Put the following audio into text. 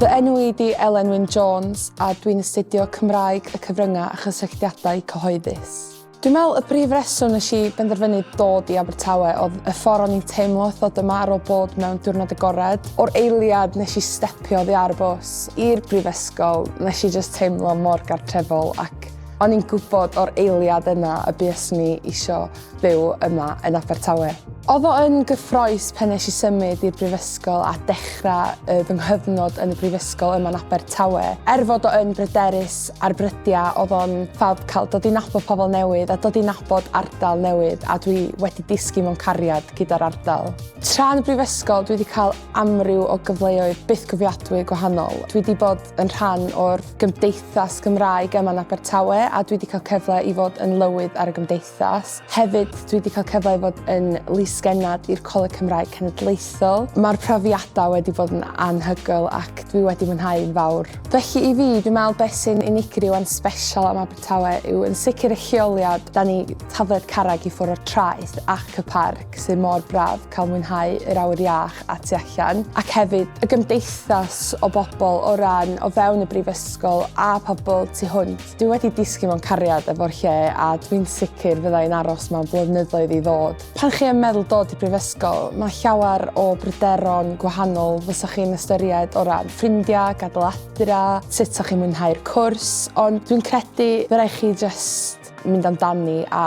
Fy enw i di Elen Wyn Jones a dwi'n astudio Cymraeg y Cyfryngau a Chysylltiadau Cyhoeddus. Dwi'n meddwl y brif reswm nes i benderfynu dod i Abertawe oedd y ffordd o'n i'n teimlo wrth ddod yma ar ôl bod mewn diwrnod agored. O'r eiliad nes i stepio oddi ar y bws i'r brifysgol, nes i just teimlo mor gartrefol ac o'n i'n gwybod o'r eiliad yna y bues ni isio byw yma yn Abertawe. Oedd o yn gyffroes pan nes i symud i'r brifysgol a dechrau y fy nghyfnod yn y brifysgol yma yn Abertawe. Er fod o yn bryderus ar brydiau, oedd o'n ffab cael dod i nabod pobl newydd a dod i nabod ardal newydd a dwi wedi disgyn mewn cariad gyda'r ardal. Tra yn y brifysgol dwi wedi cael amryw o gyfleoedd bythgofiadwy gwahanol. Dwi wedi bod yn rhan o'r gymdeithas Gymraeg yma yn Abertawe a dwi wedi cael cyfle i fod yn lywydd ar y gymdeithas. gymdeithas. Hefyd, dwi wedi cael cyfle i fod yn lys-genad i'r Coleg Cymraeg Cenedlaethol. Mae'r profiadau wedi bod yn anhygoel ac dwi wedi mwynhau'n fawr. Felly i fi, dwi'n meddwl beth sy'n unigryw a'n sbesial am Abertawe yw yn sicr y lleoliad, 'da ni tafliad carreg i ffwrdd o'r traeth ac y parc sydd mor braf cael mwynhau yr awyr iach a tu allan, ac hefyd y gymdeithas o bobl o ran o fewn y Brifysgol a pobl tu hwnt. Dwi wedi disgyn mewn cariad efo'r lle a dwi'n sicr fydda i'n aros mewn blynyddoedd i ddod. Pan chi yn meddwl dod i brifysgol, mae llawer o bryderon gwahanol fysa chi'n ystyried o ran ffrindiau, gadael adra, sut sa chi'n mwynhau'r cwrs, ond dwi'n credu fy rai' chi jyst mynd amdani a